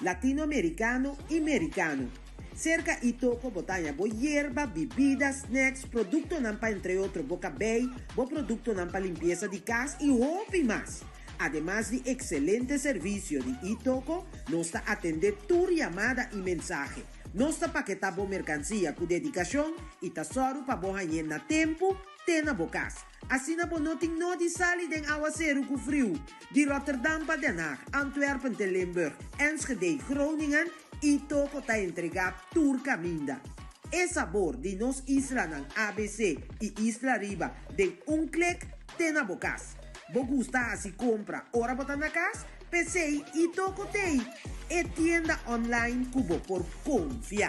Latinoamericano y Mericano. Cerca y toco bo taña bo yerba, bibida, snacks, productonan pa entre otro bo cabey, bo productonan pa limpieza di cas y hopi mas. Ademas di excelente servicio di y toco, nos ta atende tur yamada y mensahe. Nos ta paketa bo mercancia cu dedicacion y ta sòru pa bo hañ'e na tempo te na bo cas. Asina bo no tin nodi sali den awaseru ku friu di Rotterdam pa Den Haag, Antwerpen te Limburg, Enschede, Groningen i toko ta entregá tur kaminda. E sabor di nos islanan abc i isla riba den un klik te na bo kas. Bo gusta hasi kompra ora bo ta na kas? P'esei i toko t'ei e tienda online ku bo por konfia.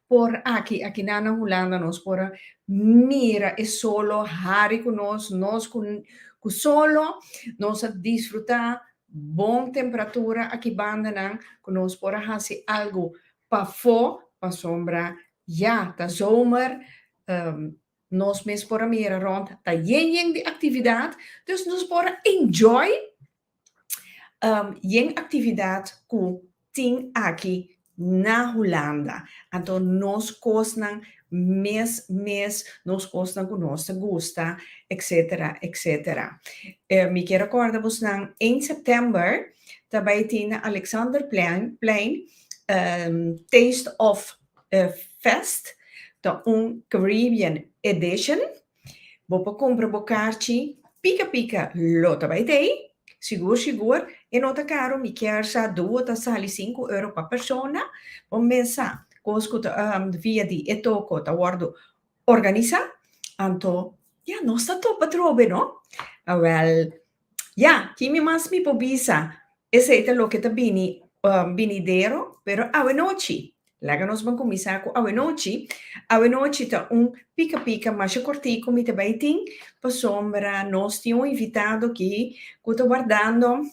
Por aki, aki nan na Hulanda nos por a mira e solo hari ku nos, nos ku ku solo nos a disfrutá bon temperatura aki bandanan ku nos por a hasi algu pafó pasobra ya ta zomer, nos mes por a mira rònt ta yen yen di aktividat, dus nos por a enjoy. Um, yen actividad cu tin aki na Hulanda. Anto nos cosnan mes mes, nos cosnan cu nos ta gusta, etc. Etc. Eh, mi kier recorda bosnan, eind september ta bay tin na Alexanderplein, plein, um, Taste of, eh, fest. Ta un Caribbean edition. Bo por cumpra bo carchi pica pica lo ta bay tey? Sigur sigur e no ta caro mi kier sa duo ta sali cinco euro pa persona? Bo mes sa cos cu ta via di e toco ta wordo organisa? Anto ya nos ta topa trobe no? Awel Ya, ki mi mas mi por bisa, esei ta loke ta bini binidero, pero awe nochi. Laga nos ban kuminsá ku awe nochi. Awe nochi ta un pika pika masha kortiku mi ta bai tin, pasobra nos tin un invitado aki ku ta wardando,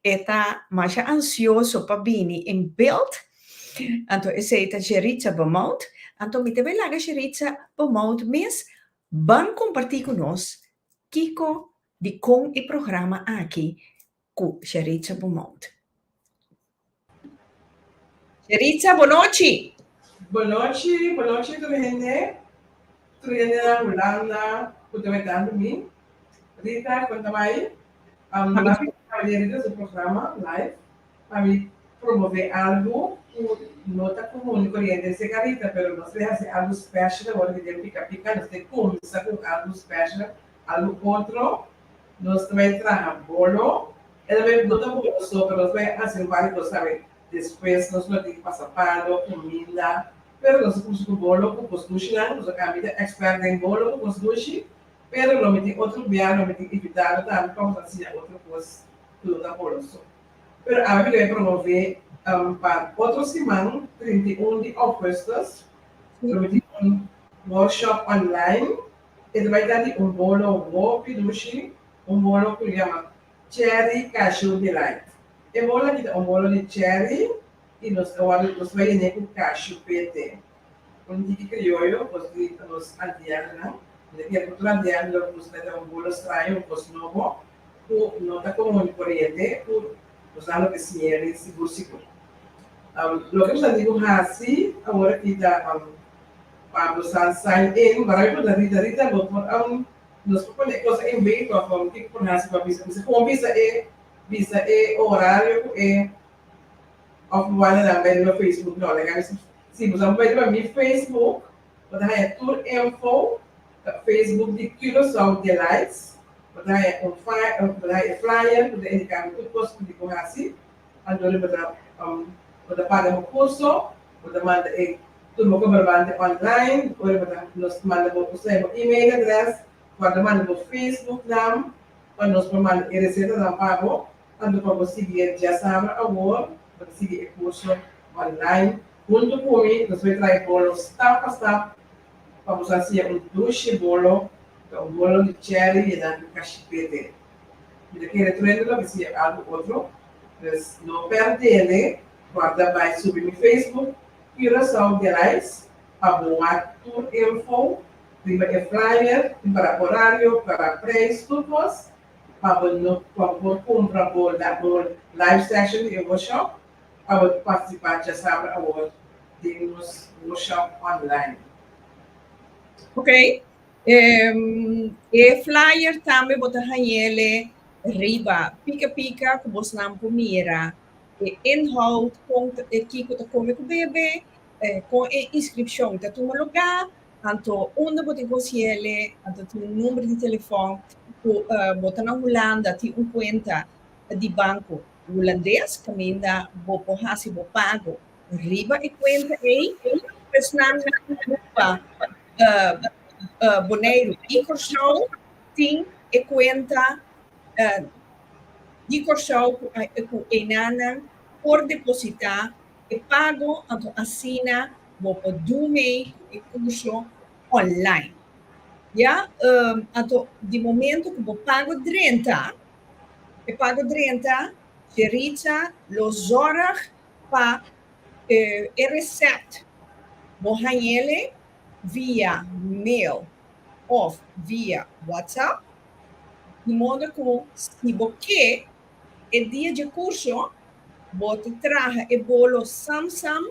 e ta masha ansioso pa bini in beeld. Anto esei ta Gerritza Beaumont. Anto mi ta bai laga Gerritza Beaumont mes ban kompartí ku nos kiko di kon e programa aki ku Sharica Beaumont. Sharica, bo nochi! Bo nochi, bo nochi tur hende. Tur hende na Hulanda ku ta wetando mi. Rita, kon ta bai? Am na bai pa e Rita su programa live pa mi promove algu ku no ta komun i koriente. Sek a Rita, pero nos ke hasi algu special awor di den pika pika. Nos ke kumsa ku algu special. a lo otro, nos trae traha bolo, el lo e bota bo oso, pero nos lo e hasi wari cos sabi, despues nos lo tin pasa palo, cuminda, pero nos a cusi cu bolo cu cos dushinan, nos a cambia ta expert den bolo cu cos dushi, pero lo mi tin otro bia, lo mi tin invitado tambe pa nos a siña otro cos cu no ta bolo so. Pero awe mi lo e promove pa otro siman, trinta i un di augustus, lo mi tin un workshop online, E ta bai tanti un bolo hopi dushi, un bolo ku lo yama Cherry Cashew Delight. E bolo aki ta un bolo di cherry i nos ta wòrdu nos ta bai yen'é ku cashew p'ete. Un tiki krioyo nos grita nos antiègnan, mi ta kere ku tur antiègnan lo nos mete un bolo straño, un kos nobo ku no ta komun di koriente ku nos nan loke sñeri si busiku. Loke nos antigua hasi awor aki ta Pablo sa sign in barai por na rita rita lo por aun nos por pone e cosa en bay pa for kico por haci pa bisa bisa como bisa e bisa e horario cu e of lo wanta nan bay den lo facebook no like ami si boso a bay pa mi facebook bo ta haya tur info ta facebook di curacao delights bo ta haya un fly bo ta haya e flyer cu ta indica tur cos cu bo haci. Anto bo ta bo ta paga bo kurso, bo ta manda e turbo kobrabante online, ora bo ta nos manda bo usa e bo email adress, bo a ta manda bo Facebook nam pa nos por manda e resetanan pa bo, anto pa bo sigui e diasabra awor bo ta sigui e kurso online hunto ku mi, nos por traha e bolo stap pa stap pa bo sa siña un dushi bolo, ta un bolo di cherry yena ku kashipete. Mi ta kere truendo lo hasié algu otro, pues no perdele por ta bai subi mi Facebook Curaçao Gerais pa boa tur info riba e flyer, tin para horario, para prijs, tur cos, pa bo no pa bo cumpra bo un live session di e workshop pa bo participa chasabra awor den nos workshop online. Ok, Um, e flyer tambe bo ta hañele riba pika pika ku bosnan por mira e inhoud, kon ta, e kiko ta kome ku bebe, eh, kon e inskripshon ta tuma lugá, anto unda bo tin ku hasiele, anto tin un number di telefòn ku, uh, bo ta na Hulanda tin un kuenta di banko hulandes kaminda bo por hasi bo pago riba e kuenta ei. Pues nan nan Aruba. Boneiru y Corshou tin e cuenta di Corshou cu enanan por deposita e pago anto asina bo por do mei cu e curso online. Ya anto di momento cu bo pago drenta, e pago drenta Sherica lo zorg pa e reset bo hañ'ele via mail of via WhatsApp di modo cu si bo ke e dia dje curso bo ta traha e bolo sam sam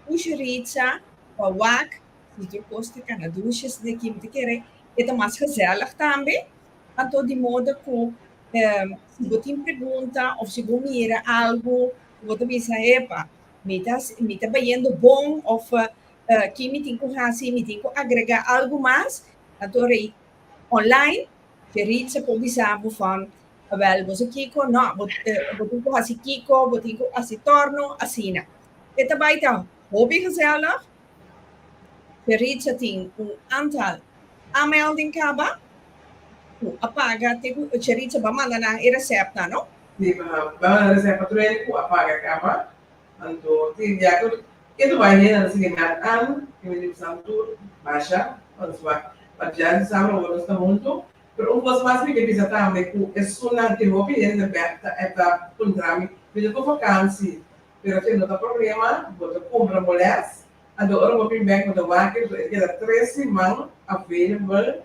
ush rica pa wak si dje cos ta cana dushi esnan ki bo ta kere e ta mas gezellig tambe anto di modo cu si bo tin pregunta of si bo mira algu Cu bo ta bisa, Epa, mi ta, mi ta bayendo bon, of ki mi tin cu haci, mi tin cu agrega algo mas? Anto rei online, Ferit sa por bisa bo van, Awel, bo sa kico? No, bo, bo tin cu haci kico, bo tin cu haci torno, asina. E ta bay ta hopi gezellig. Ferit sa tin un antal aanmelding caba, cu a paga te cu Ferit sa ba manda nan e receptnan, no? tin banana di sempa truene cu a paga caba, anto tin dia cu e tu bay henda ta sigui ngat an tin men di cu Sam tur basha pa nos bay pa Jan y Sam awor nos ta hunto, pero un cos mas mi ke bisa tambe cu esunnan tin hopi hende bek ta e ta puntra mi bini cu vakansi pero tin no ta problema bo ta cumpra bo les, anto ora bo bin bek bo ta wak y despues e ta keda tres siman available.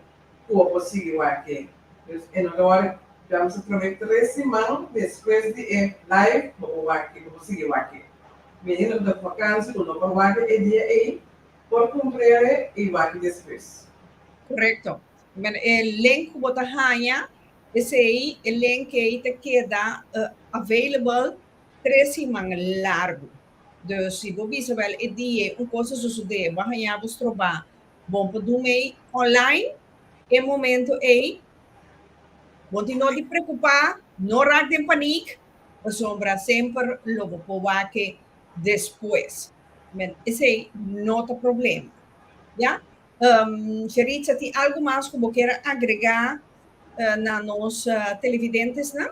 ku bo por sigui wak-e. Pues e no ta wòrdu djam so trab'é tres siman despues di e live bo por wak-e, bo por sigui wak-e. Mi ainda no ta ku vakansia ku no por wak-e e dia ei, por kumprende i wak-e despues. Korekto. Bueno, e link ku bo ta haña, esei e link ei ta keda available tres siman largu. Dus si bo bisa wel e dia ei un kos ta sosodé, bo a haña bo strobá, Bon por dun ei online e momento ei. Bon tin no di preocupa, no raak den paniek, pasobra semper lo bo por wak-e despues. Met esei no ta problema. Ya? Um, Yaritza, tin algu mas cu bo quiere agrega na nos televidentesnan?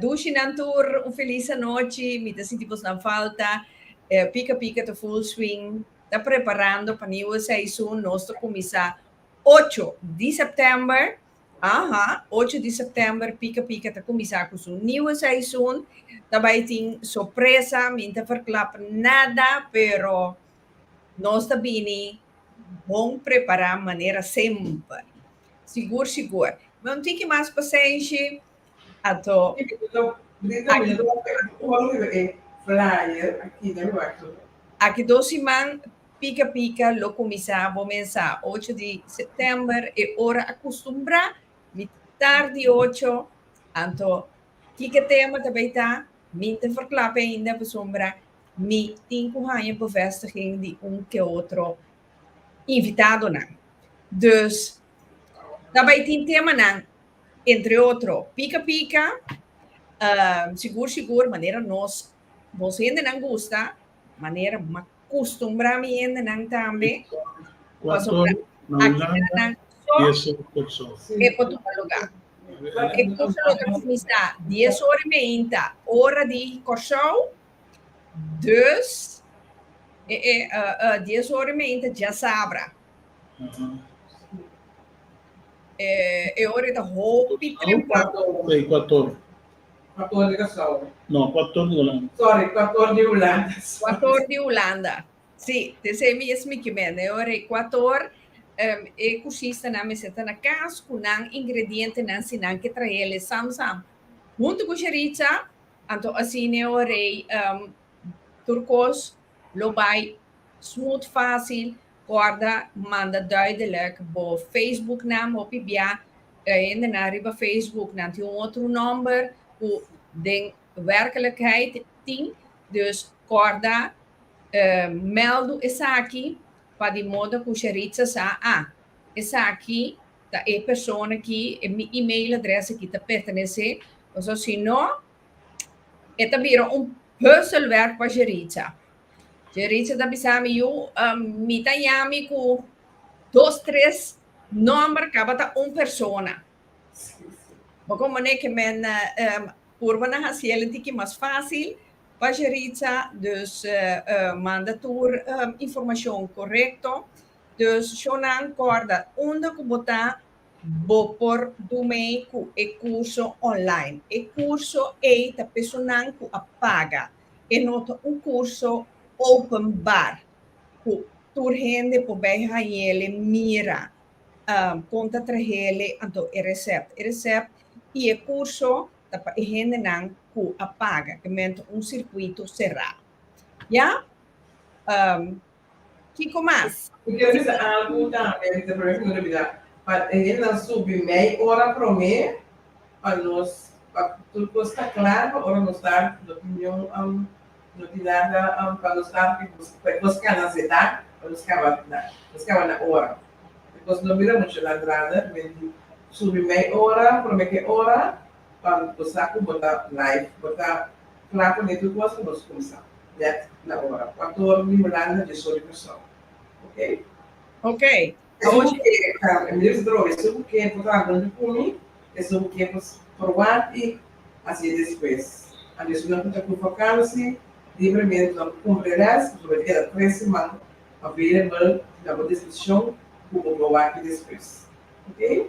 Dushinan tur un felis anochi, mi ta sinti bosnan falta. Pika Pika ta full swing, ta preparando pa niu seisoen, nos ta kuminsá ocho di sèptèmber, aha, ocho di sèptèmber Pika Pika ta kuminsá ku su niu seisoen, ta bai tin sorpresa, mi no ta ferklap nada, pero nos ta bini bon prepará manera semper, sigur sigur. Bon tiki mas pasenshi. Anto. Aki dos siman Pika Pika lo kuminsá bo mensá ocho di septèmber e ora akustumbrá mi tardi ocho anto kiko tema ta bai ta mi ta ferklap'e ainda pasobra mi tin ku haña bevestiging di un ke otro invitadonan. Dus ta bai tin temanan. entre otro, pica pica, ehm, sigur sigur, manera nos, nos hendenan gusta, manera ma custumbra mi hendenan tambe, Cuator, pasobra na aki ta Hulanda, nan so dies ora per persona. e por tuma lugar. E curso lo ta cuminsa dies ora i meinta, ora di Corsou, dus, e e, eh, eh, dies ora i meinta djasabra, Eh, e ora ta hopi trempa. Ei, kuator. Kuator di Kasau. No, kuator di Hulanda. Sorry, kuator di Hulanda. Kuator di Hulanda. Si, te se mi es mi kimena. E ora e kuator, um, e kursistanan mester ta na kas ku nan ingredientenan si nan ke trahe el e sam sam. Huntu ku shericha, anto asina e ora um, tur kos lo bai smut, fásil. Corda manda duidelek bo Facebook nam hopi bia e hendenan riba Facebook nan tin un otro nomber cu den werkelijkheid tin, dus corda meldu esaki pa di modo cu Sheritza sa, ah, esaki ta e persona ki e mi email adres aki ta pertenece, pasobra si no e ta bira un puzzelwerk pa Sheritza. Tje Richard a bisa mi, yu, um, mi ta yami ku dos, tres nòmber kabata un persona. Bo kon mané ke men um, purba na hasi el tiki mas fásil pa tje Richard, dus uh, manda tur um, informashon korekto. Dus shownan kòrda unda ku bo ta, bo por dun mei ku e kurso online. E kurso ei ta pesonan ku a paga. e no ta un curso openbar cu tur hende por bay hañele, mira con ta trahele anto e recept. E recept y e curso ta pa e hendenan cu a paga, ke men ta un circuito cera. Ya. Kiko mas? Mi quiero bisa algo tambe Rita pero mi no lo bida pa e hendenan subi mei ora prome pa nos pa tur cos ta clara pa ora nos dar no opinion am no tin nada am pa nos dar e cos can nan zeta pa nos caba na nos caba na ora becos no mira mucho nan drada men di subi mei ora prome ke ora. Cuando bo sa cu bo ta live, bo ta cla cu nitu cosa nos cuminsa net na ora. Pator di Hulanda dje soli persoon. Ok. Ok. Esnan cu ke ta Emily's Droom, esnan cu ke por ta hablando di cumi, esnan cu ke por probar y haci despues. Anto esnan cu ta cu vakansi, libremente nan cu cumpli rest, bo ta keda tres seman available na bo disposicion cu bo por wak despues. Ok.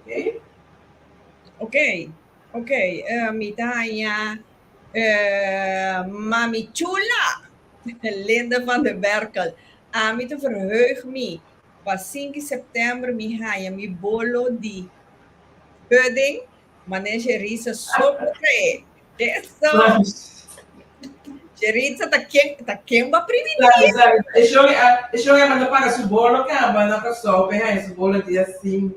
Okay. Okay. Okay. Uh, mi ta haña uh, Mami Chula, Linda van der Berkel. A mi te verheug mi pa 5 september mi haña mi bolo di pudding Mané Jeritza so por trae. Eso. Jeritza ta quien, ta quien va primitiva. Eso eso que manda para su bolo que a banda para so pe hay su bolo dia 5.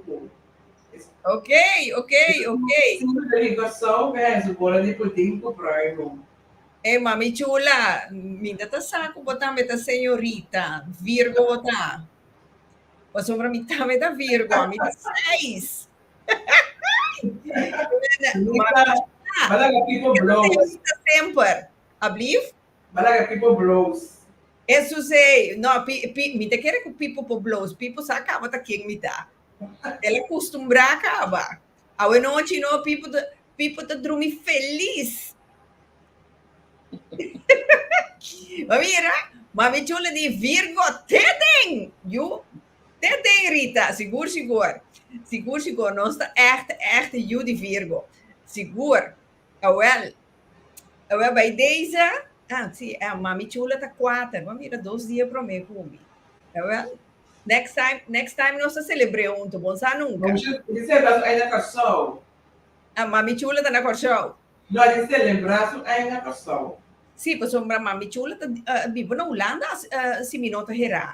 Ok, ok, ok. Siempre te digo so pe hay su bolo di putin ku proibo. E eh, mami chula, minta ta sa ku botan beta señorita, Virgo bota. Pasobra mi tambe ta Virgo, mi ta 6. Malaga people blows. Semper. Ablief? Malaga people blows. Eso se, no, pi, pi, mi te kere ku pipo po blows, pipo sa kaba ta ken mi ta. Ela kustumbra kaba. Awe nochi no, pipo ta, pipo ta drumi felis. Ma mira, mami chula di Virgo, tedeng! You, Te te irita, sigur sigur, sigur sigur nos ta ègt ègt yu di Virgo, sigur, awèl, awèl bai deze, a si e Mami Chula ta kuater, bo a mira dos dia promé ku mi, jawel, next time, next time nos ta selebr'é huntu, bon sa nunka. Di selebrá su aña na Kòrsou. A Mami Chula ta na Kòrsou? No, di selebrá su aña na Kòrsou. Si, pasobra Mami Chula ta biba na Hulanda, si mi no ta herá.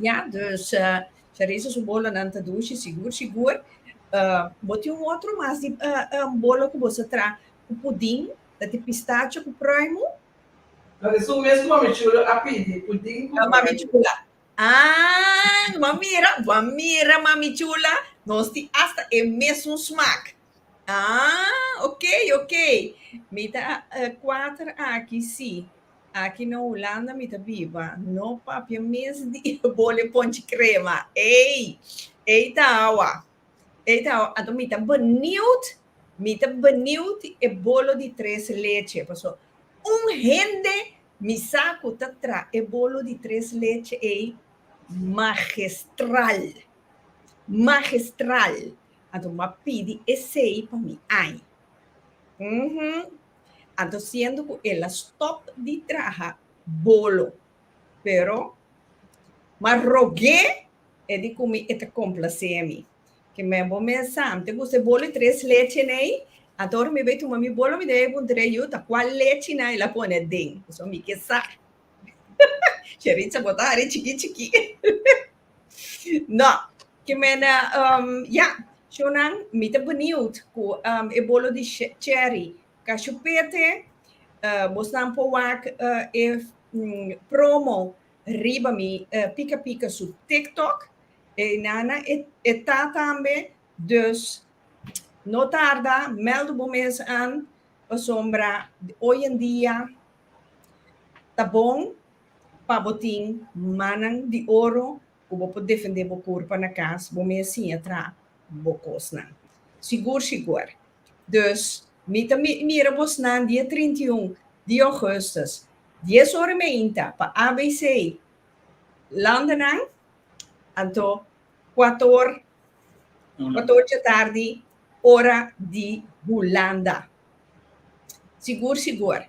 Ya, dus Charisse su bolonan ta dushi sigur sigur. Uh, bo tin un otro mas di uh, um, bolo ku bo sa tra ku pudin, ta ti pistacho ku pruimu. Mas esun mes ku mami chulo a pidi, pudin ku pruimu. Mami chula. Ah, ma mira, ma mira mami chula, nos ti hasta e mesun smaak. Ah, ok, ok. Mi ta eh, cuatro aquí, sí. Aquí na Holanda mi ta viva. No papia mes di bole ponche crema. Ei, ei tawa. Ei tawa. Anto mi ta benieuwd. Mi ta benieuwd e bolo di tres leche. Paso un hende mi sa cu ta tra e bolo di tres leche ei magistral. Magistral. Anto m'a pidi esei pa mi ai. Uhum. Anto siendo cu el a stop di traha bolo, pero m'a rog'é e di cu mi e ta complacé mi. Ke men bo mensam, te gusta e bolo di tres leche n'ei? Anto ora mi bai tuma mi bolo, mi debe puntr'é yu, ta cual leche nan el a pone aden? Pasobra mi ke sa. Yaritza bota hari chiki chiki. No, ke mene, um, ya, Shonan, mi ta beniut ku um, e bolo di cherry kashu pete, uh, bosnan por wak uh, e um, promo riba mi uh, pika pika su TikTok, e nana e, e ta tambe, dus no tarda, mèld bo mes an, pasobra oyendia ta bon. pa bo tin mannan di oro ku bo por defendé bo kurpa na kas, bo mes siña tra bo kosnan. Sigur shiguer. Dus, mi ta mira bosnan dia trinta i un di ougùstus, dies ora meinta, pa ABC landenan, anto kuator, kuator dje tardi, ora di Hulanda. Sigur shiguer.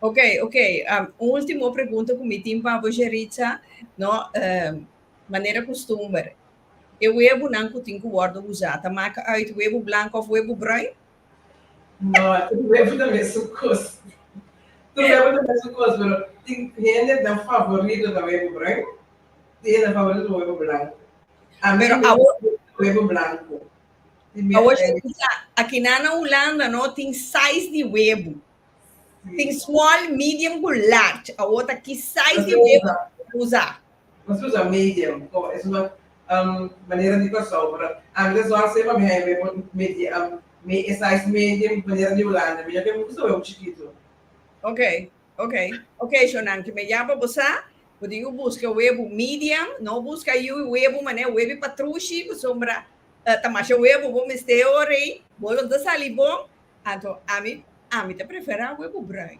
Ok, ok. Um, un último pregunta ku mi tin pa boje Richa, no, um, manera kustumber. E webo nan ku tin ku wòrdu usá, ta maka uit webo blank of webo bruin? No, tur webo ta mesun kos. Tur webo ta mesun kos, pero tin hende nan favorito ta webo bruin, tin hende nan favorito ta webo blank. A mi mi gusta webo blanku. Tin mi a Awosh Richa, akinan na Hulanda, no, tin sais di webo. Tin small, medium cu large. Awor ta ki size di web ta usa. Nos ta usa medium como es una manera di Kòrsou, pero antes lo hacia pa mi haña web e size medium manera di Hulanda. Mi no ke usa web chikitu. Ok, ok, ok shownan ke mi ya pa bo sa, bo tin cu busca web medium, no busca yu web manera web di patrushi, pasobra ta masha web bo mester awor ei. Bo lo ta sali bon, Anto ami ami ta prefera we ku brui.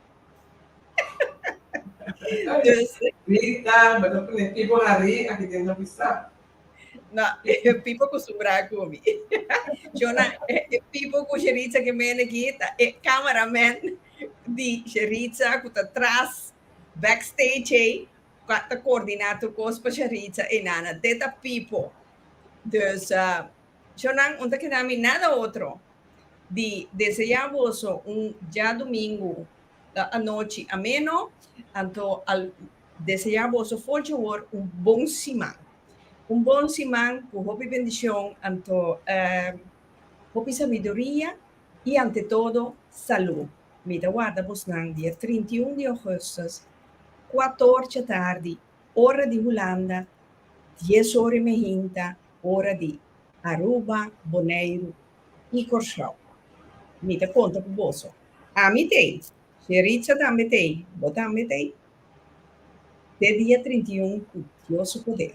dus Rita, bo ta pone pipo hari aki den no bisa. No, pipo kostumbrá ku mi. Chona, e pipo ku Sheritza ke mende aki ta e kameramen di Sheritza ku ta tras backstage ei ku ta koordiná tur kos pa Sheritza ei nana. Te ta pipo. Dus, Chona, un ta keda mi nada otro di deseá boso un djadumingu ta anochi ameno, anto al deseá boso for dje wor un bon siman. Un bon siman ku hopi bendishon, anto hopi sabiduria i ante todo salú. Mi ta warda bosnan dia trinta i un di Augustus, kuat or dje tardi, ora di Hulanda, dies ora i mehinta, ora di Aruba, Boneiru i Kòrsou. Mi ta konta ku boso. Ami t'ei, si Ritza tambe t'ei, bo tambe t'ei, te dia trinta i un ku Dios su poder.